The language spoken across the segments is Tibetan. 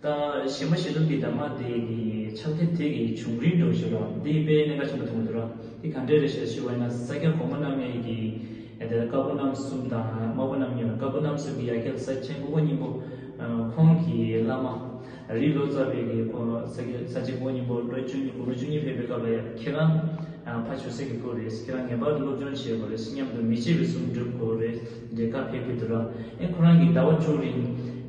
དང། ཞི་མ་ཞི་གདུང་གི་འདབ་མ་དེ་ནི་ཕྱག་མཐིལ་དེ་གི་བྱུང་རིམ་དུ་བཞེད་པ། འདི་དཔེ་གནད་འགའ་ཆེན་པོ་དང་པོ་དུ་ར་དེ་གང་འདྲའི་རེ་ཞེས་ཞུ་བ་ན་ས་སྐྱ་གོང་མ་རྣམ་ངེས་ཀྱི་དེར་དཀར་པོ་རྣམ་གསུམ་དང་དམར་པོ་རྣམ་གཉིས་པ་དཀར་པོ་རྣམ་གསུམ་གྱི་ཡ་གྱལ་ས་སྤྱན་སྐུ་ཕོ་སྙིང་པོ་ཁོང་གི་བླ་མ་རི་ལོ་ཙཱ་བས་གི་ཕོ་ས་སྤྱན་སྐུ་ཕོ་སྙིང་པོ་ལོ་བཅུ་གཉིས་དགུང་ལོ་བཅུ་གཉིས་ཕེབས་པའི་སྐབས་ལ་ཡང་ཁྱེད་རང་ཕ་ཆོས་སྲས་ཀྱི་སྐུ་རེད་ཁྱེད་རང་ངེས་པར་དུ་སློབ་སྦྱོང་བྱེད་དགོས་རེད་སྙམ་དུ་མི་ཕྱེད་པའི་གཟུངས་བསྒྲུབ་དགོས་རེད། འབྲས་དཀར་ཕས་ཁུ་དུ་ར་ཨེ་ཁོ་རང་གིས་ཟླ་བ་བཅུ་རིང་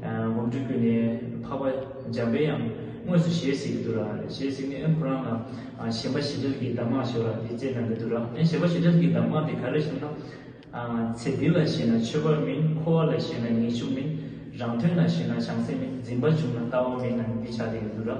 སྒོམ་སྒྲུབ་བརྒྱུད་ནས་འཕགས་པ་འཇམ་པའི་ཡང་དངོས་སུ་ཞལ་གཟིགས་ཀྱི་དུ་ར་ཞལ་གཟིགས་ནས་ཨེ་ཁོ་རང་ལ་ཞེན་པ་ཞི་དྲག་གིས་གདམས་ངག་ཞོར་ར་དེ་བསྩལ་གནང་གི་དུ་ར་ཨེ་ཞེན་པ་ཞི་དྲག་གིས་གདམས་ངག་དེ་ག་རེ་ཞུ་ན། ཚེ་འདི་ལ་ཞེན་ན་མཆོད་པ་མིན་འཁོར་བ་ལ་ཞེན་ན་ངེས་འབྱུང་མིན་རང་དོན་ལ་ཞེན་ན་བྱང་སེམས་མིན་འཛིན་པ་བྱུང་ན་ལྟ་བ་མིན་ནམ་འདི་བྱ་དེ་ཡོད་དུ་ར།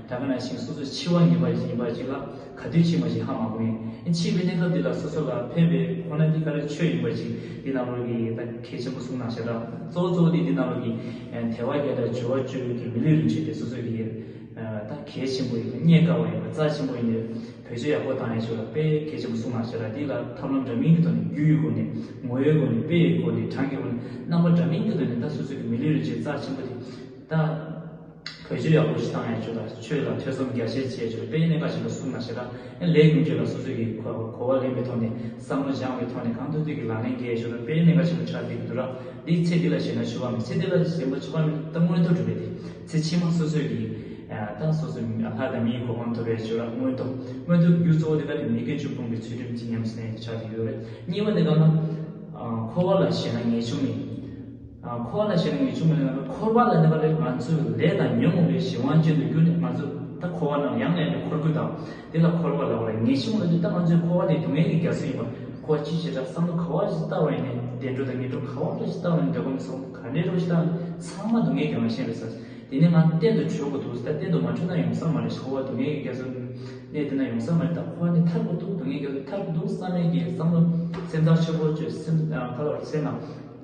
ད་ག་ནས་ཞིག་སོ་སོས་འཆི་བ་ངེས་པ་ཞིག་ཡིན་པ་ཞིག་ལ་ག་དུས་འཆི་མ་ཞིག་ཧ་མ་གོ་ངེས་ཨེ་འཆི་བའི་གནས་སྐབས་འདི་ལ་སོ་སོ་ལ་ཕན་པའི་ཁོ་ན་གྱི་ཀ་རའི་ཆོས་ཡིན་པ་ཞིག་འདི་རྣམས་རོལ་གྱི་ཡོད་ད་གལ་ཆེན་པོ་གསུངས་ན་ཞེ་དྲག་གཙོ་བོ་གཙོ་བོ་དེ་འདི་རྣམས་རོལ་གྱི་དལ་བ་བརྒྱ་དང་བཅུ་བ་བཅུ་ཡོད་ཀྱི་མི་ལུས་རིན་ཆེན་དེ་སོ་སོ་ཡི་ད་གལ་ཆེན་པོ་ཡིན་པ་རྙེད་དཀའ་བ་ཡིན་པ་རྩ་ཆེན་པོ་ཡིན་པའི་བོད་ཆོས་ཡག་པོ་དང་ཡེ་ཤུ་ལ་དཔེ་གལ་ཆེན་པོ་གསུངས་ན་ཞེ་དྲག་འདི་ལ་ཐབས་ལམ་འདྲ་མིན་གྱི་ཐོག་ནས་རྒྱུའི་སྒོ་ནས་ངོ་བོའི་སྒོ་ནས་དཔེ་ཡི་སྒོ་ནས་གྲངས་ཀྱི་སྒོ་ནས་རྣམ་པ་འདྲ་མིན་གྱི་སྒོ་ནས་ད་སོ་སོ་གྱི་མི་ལུས་རིན་ཆེན་རྩ་ཆེན་པོ་དེ་ད། བོད་ཆོས་ཡག་པོ་ཞིག་བཏང་ཡ་ཆོས་དང་ཆོས་ལ་ཐོས་བསམ་རྒྱ་ཆེར་བྱས་ཆོས་དཔེ་ཡི་གནད་ཀ་ཞིག་ལ་གསུངས་ན་ཞེ་དྲག་ཡང་ལས་ཀྱང་ཆོས་ལ་སོ་སོས་ཀྱི་གོ་བ་ལེན་པའི་ཐོག་ནས་བསམ་བློ་སྦྱང་བའི་ཐོག་ནས་གང་ཐུབ་ཐུབ་ཀྱི་ལག་ལེན་འགེལ་ཆོག་ན་དཔེ་ཡི་གནད་ཀ་ཆེན་པོ་ཆགས་བསྡད་ཀྱི་འདུག་ར་འདིའི་ཚེ་འདི་ལ་ཞེན་ན་ཆོས་པ་མིན་ཚེ་འདི་ལ་ཞེན་པ་ཆོས་པ་མིན་ད་མངོན་མཐོ་གྲུབ་པའི་ཚེ་ཕྱི་མ་སོ་སོས་ཀྱི་ད་སོ་སོས་ལྷ་དང་མིའི་གོ་འཕང་ཐོབ་པའི་ཆོས་ར་མངོན་མཐོ་མངོན་མཐོ་གི་རྒྱུ་གཙོ་བོ་དེ་ག་ནས་མི་དགེ་བཅུ་སྤོང་པའི་ཚུལ་ཁྲིམས་ཀྱི་ཉམས་སུ་ལེན་ཆགས་བསྡད་ཀྱི་ཡོད་རེད་གཉིས་པ་དེ་ག་ན་འཁོར་བ་ལ་ཞེན་ན་ངེས་བྱུང་ནས། འཁོར་ལ་ཞེན་ནས་ངེས་འབྱུང་མེད་ན་འཁོར་བ་ལ་གནས་པ་ལས་ང་ཚོས་ལས་དང་ཉོན་མོངས་པའི་གཞན་དབང་ཅན་དུ་གྱུར་ནས་ང་ཚོས་ད་འཁོར་བ་རྣམས་ཡང་ངན་པའི་འཁོར་ཀུན་དང་དེ་ལ་འཁོར་བ་ལ་བ་ལ་ངེས་འབྱུང་ལ་འདུག་ད་ང་ཚོའི་འཁོར་བ་དེ་སྡུག་བསྔལ་གྱི་རྒྱ་མཚོ་ཡིན་པ་ཁོ་བ་ཅི་ཞེ་དྲག་བསམ་བློ་ག་བ་ཞིག་བཏང་བ་ཡིན་ནས་བདེ་འགྲོ་དང་ངན་འགྲོ་ག་བ་འདྲ་ཞིག་བཏང་བ་ཡིན་འདོད་ཁམས་སོགས་ག་འདྲའི་རོ་ཞིག་བཏང་ཡིན་ཚང་མ་སྡུག་བསྔལ་གྱི་རང་བཞིན་རེད་ས་དེ་ནས་ང་གཏན་དུ་བྲོས་དགོས་འདུག་ད་གཏན་དུ་མ་བྲོས་ན་ཡོང་ས་མ་རེད་འཁོར་བ་སྡུག་བསྔལ་གྱི་རྒྱ་མཚོ་གནས་དེ་ན་ཡོང་ས་མ་རེད་ད་འཁོར་བ་འདི་ཐར་དགོས་འདུག་སྡུག་བསྔལ་གྱི་རྒྱ་མཚོ་ཐར་དགོས་འདུག་བསམ་མེད་ཀྱི་བསམ་བློ་སེམས་ཐག་ཆོད་པོ་བཅོས་སེམས་ཐག་ཆོད་པོ་བྱས་ན།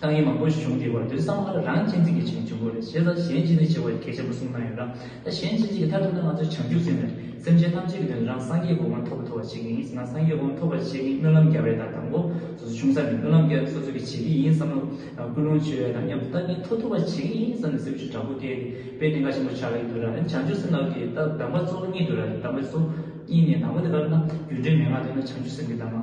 ཏང་ཡོན་མང་པོ་ཞིག་བྱུང་དེའི་བར་དུ་བསམ་བློ་ལ་རང་གཅེས་འཛིན་གྱི་བྱེད་ནུས་འབྱུང་དགོས་རེད་བྱས་ཙང་གཞན་གཅེས་འཛིན་བྱེད་དགོས་ཀྱི་གལ་ཆེན་པོ་གསུངས་གནང་ཡོད་ལ། ད་གཞན་གཅེས་འཛིན་གྱི་མཐར་ཐུག་ན་ང་ཚོ་བྱང་ཆུབ་སེམས་ནས་སེམས་ཅན་ཐམས་ཅད་ཀྱི་དོན་དུ་རང་སངས་རྒྱས་ཀྱི་དབང་ཐོབ་པ་ཐོབ་པར་བྱེད་ཀྱི་ཡིན་ཟེར་ན་སངས་རྒྱས་དབང་ཐོབ་པར་བྱེད་མཁན་སྨོན་ལམ་རྒྱབ་རེད་ད་དང་པོ་སོ་སོ་ཆུང་ས་ནས་སྨོན་ལམ་རྒྱབ་སོ་སོ་གྱིས་བྱེད་ཀྱི་ཡིན་བསམ་བློ་ཀུན་སློང་བྱོས་དང་མཉམ་དུ་ལྟ་ཉན་ཐོ་ཐུབ་པར་བྱེད་ཀྱི་ཡིན་བསམ་ནས་སེམས་ཤུགས་དྲག་པོ་སྐྱེས་ཏེ་དཔེ་དེ་འགའ་ཆེན་པོ་ཆགས་ཀྱི་འདུག་ལ་ཡང་བྱང་ཆུབ་སེམས་ལགས་ཀྱི་ད་གདམས་པ་གཙོ་བོ་གཉིས་འདུག་ལ་གདམས་པའི་གཙོ་བོ་གཉིས་ནས་དང་པོ་དེ་ག་རེ་ན་རྒྱུ་འབྲས་མན་ངག་འདོད་ན་བྱང་ཆུབ་སེམས་ཀྱི་གདམས་པ།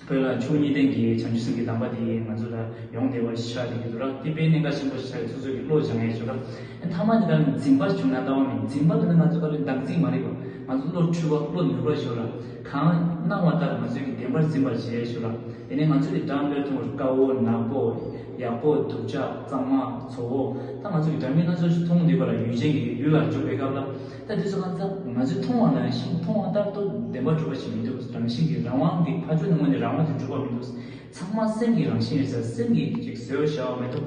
བོད་ལ་ཆོས་ཉིད་ལྡན་གྱི་བྱམས་ཆོས་སྲིད་ཀྱི་གདམས་པ་དེ་ཡིས་ང་ཚོ་ལ་ཡོངས་བདེ་བ་ཞིག་ཆགས་ཏེ་ཡོད་དོ་ར་ཏི་པའི་གནད་འགག་ཆེན་པོ་ཞིག་ཆགས་ཡོད་སོ་སོའི་རིགས་བློ་སྦྱང་ཡས་ཆོས་ར་མཐའ་མ་དེ་དག་ནི་འཛིན་པར་བྱུང་ན་ལྟ་བ་མིན་འཛིན་པ་དེ་ནི་ང་ཚོ་ལྟ་བུའི་བདག་འཛིན་མ་རིག་པ་ང་ཚོ་བློ་འཁྲུལ་བ་བློ་མྱུར་བ་ཆོས་ར་གང་སྣང་བ་ལྟར་ང་ཚོའི་གི་བདེན་པར་འཛིན་པར་བྱེད་ཡས་ཆོས་ར་དེ་ནི་ང་ཚོ་གི་སྦྲང་དཔེར་མཐོང་བར་དཀའ་བོ་ནག་པོ་ཡག་པོ་སྡུག་ཅག་གཙང་མ་ཚོ་བོ་ད་ང་ཚོ་གི་སྦྲང་མི་སྣ་ཚོ་ཞིག་མཐོང་འདུས་པ་ལ་ཡུལ་ཅན་གྱི་ཡུལ་ལ་འཇུག་པའི་སྐབས་ལ། ད་དུས་ཚོད་གང་ཙམ་ང་ཚོས་མཐོང་བ་ནང་བཞིན་མཐོང་བ་ལྟར་དུ་བདེན་པ་གྲུབ་པ་ཞིག་མི་འདུག་རང་བཞིན་གྱིས་རང་དབང་གི་ཕ་ཆོས་ནི་དངོས་ནས་རང་དབང་གིས་གྲུབ་པ་མི་འདུག་ཚང་མ་སེམས་ཀྱི་རང་བཞིན་རེད་ས་སེམས་ཀྱིས་ཅིག་བཟོས་བ་ཞག་མེད་དུ་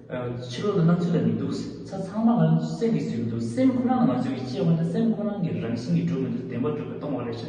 ཕྱི་ལོག་ན་སྣང་ཚུལ་ལ་མི་འདུག་ས་ཚང་མ་ང་སེམས་ཀྱིས་བཟོས་པ་འདུག་སེམས་ཁོ་ན་ནི་ང་ཚོས་ཅེས་བ་འདི་སེམས་ཁོ་ན་གི་རང་བཞིན་གྱིས་གྲུབ་མི་འདུག་བདེན་པ་གྲུབ་པའི་སྟོང་བ་རེད་ས།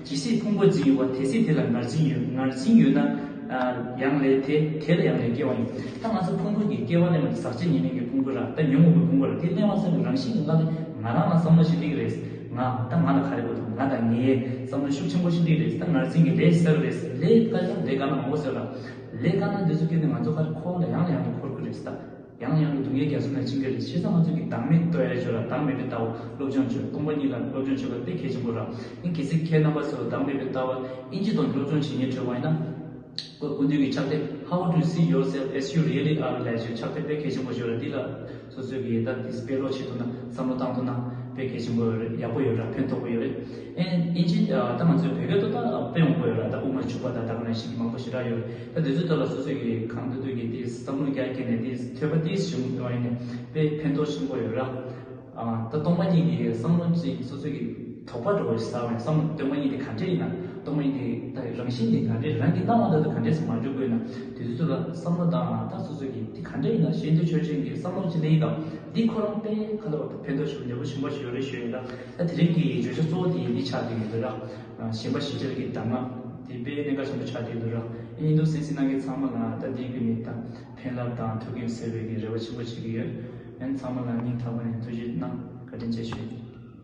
ཇི་སྲིད་ཕུང་པོ་འཛིན་ཡོད་པ་དེ་སྲིད་དེ་ལ་ངར་འཛིན་ཡོད། ངར་འཛིན་ཡོད་ན། ཡང་ལས་དེ། དེ་ལ་ཡང་ལས་སྐྱེ་བ་ཡིན། ད་ང་ཚོ་ཕུང་པོ་འདི་སྐྱེ་བ་གླེང་བ་དེ་ཟག་བཅས་ཉེ་གླིང་གི་ཕུང་པོ་ར། ད་ཉོན་མོངས་པའི་ཕུང་པོ་ར་དེ་གླེང་བ་ཙམ་གྱི་རང་བཞིན་གྱི་ང། ང་རང་ལ་བསམ་བློ་ཞིག་སྒྲིག་རེས། ང། ད་ང་ལ་ག་རེ་དགོས་དང་ང་དང་ངའི། བསམ་བློ་ཤུགས་ཆེན་པོ་ཞིག་སྒྲིག་རེས་ད་ངར་འཛིན་གྱི་ལས་ཞིག་བསགས་ཀྱི་རེས། ལས་དཀའ་ཀྱང་ལས་དཀའ་ན་མང་པོ་བསོད་ར། ལས་དཀའ་ན་འདི་ཚོ་སྐྱོན་ནི་ང་ཚོ་ག་རེ་ཁོག་ལ་ཡང་ལ་ཡང་ནས་འཁོར་དགོས་རེས་ད། ཡང་ཡང་གི་སྡུག་བསྔལ་རྒྱ་མཚོ་ན་བྱིང་ག་རེ་ཆེ་ས་མ་ཚུགས་ཀྱི་བདག་མེད་དོ་ཨའི་ཆོས་ལ་བདག་མེད་པའི་ལྟ་བ་སློབ་སྦྱོང་བྱོས་སྟོང་པ་ཉིད་ལ་སློབ་སྦྱོང་བྱེད་པ་དཔེ་གལ་ཆེན་པོ་རང་ཡིན་གལ་སྲིད་ཁྱེད་རྣམ་པ་ཚོས་བདག་མེད་པའི་ལྟ་བ་ཨིན་ཇི་དང་སློབ་སྦྱོང་བྱེད་ཉེར་འཁྲོལ་བ་ཡིན་ན། སྐུ་མདུན་གྱི་ཕྱག་དེབ How to See Yourself As You Really Are ལས་བྱོས་ཕྱག་དེབ་དཔེ་གལ་ཆེན་པོ་བྱོས་ར་འདི་ལ་སོ་སོའི་གི་ཡི་དྭགས་འདིས་དཔེ་ཀློག་བྱེད་ཐུབ་ན་བསམ་བློ་བཏང་ཐུབ་ན་དཔེ་གལ་ཆེན་པོ་རེད་ཡག་པོ་ཡོད་ར་ཕན་ཐོགས་པོ་ཡོད་རེད་ཨིན་ཨིན་ཇི་ད་ང་ཚོའི་བོད་སྐད་ཐོག་ད་དཔེ་འོང་པོ་ཡོད་ར་ད་དབུ་མར་ཕྱུག་པ་དང་ད་ག་ནས་ཤིག་གི་མང་པོ་ཞིག་ར་ཡོད་རེད། ད་དེ་ཚོའི་ཐོག་ལ་སོ་སོས་ཀྱི་གང་འདོད་འདོད་ཀྱིས་དེ་བསམ་བློ་རྒྱ་བསྐྱེད་ནས་དེ་ཐོས་པ་དེ་ཞིབ་མོ་ཐོས་ཡིན་ནས་དཔེ་ཕན་ཐོགས་ཆེན་པོ་ཡོད་ར། ད་སྟོང་པ་གཉིས་ཀྱི་བསམ་བློ་ཅན་གྱི་སོ་སོས་ཀྱི་དོགས་པ་འགྲོ་བའི་ས་བོན་སམ་སྟོན་པ་གཉིས་དེ་ག་འདྲས་ཡིན་ན་སྟོང་པ་གཉིས་དེ་རང་བཞིན་གྱི་ག་འདྲས་རང་གི་སྣང་བ་དག་ཏུ་ག་འདྲས་སུ་མ་འགྲོ་དགོས་ན་དེ་ཚོའི་ཐོག་ལ་བསམ་བློ་བཏང་ན་ད་སོ་སོས་ཀྱི་དེ་ག་འདྲས་ཡིན་ན་གཞན་དོན་ཆོས་ཅན་གྱི་བསམ་བློ་ཅི་འདྲ་ཡིན་དང་འདི་ཁོ་རང་དཔེ་ཁ་ལ་བ་ཕན་ཐོགས་ཆེན་པོ་ལེགས་པོ་ཆེན་པོ་ཞིག་ཡོད་རེ་ཞུ་ཡོད་ར། ད་དེ་རིང་གི་བརྗོད་བྱ་གཙོ་བོ་དེ་འདི་ཆགས་ཀྱི་ཡོད་ར། གཞན་པ་ཞི་བྱེད་ཀྱི་གདམས་ངག་དེ་དཔེའི་གནད་འགག་ཆེན་པོ་ཆགས་བསྡད་འདུག་ར་ཨེ་ཉི་འདུག་སེམས་ཤིང་གནང་མཁན་ཚང་མ་ལ་ད་ལྟའི་དུས་ནས་ད་ཕན་རླབས་དང་ཐུགས་འགན་སེལ་བའི་རེ་བ་ཆེན་པོ་བྱེད་ཀྱི་ཡོད། ཡང་ཚང་མ་ལ་སྙིང་ཐག་པ་ནས་ཐུགས་རྗེ་གནང་བཀའ་དྲིན་ཆེ་ཞུ།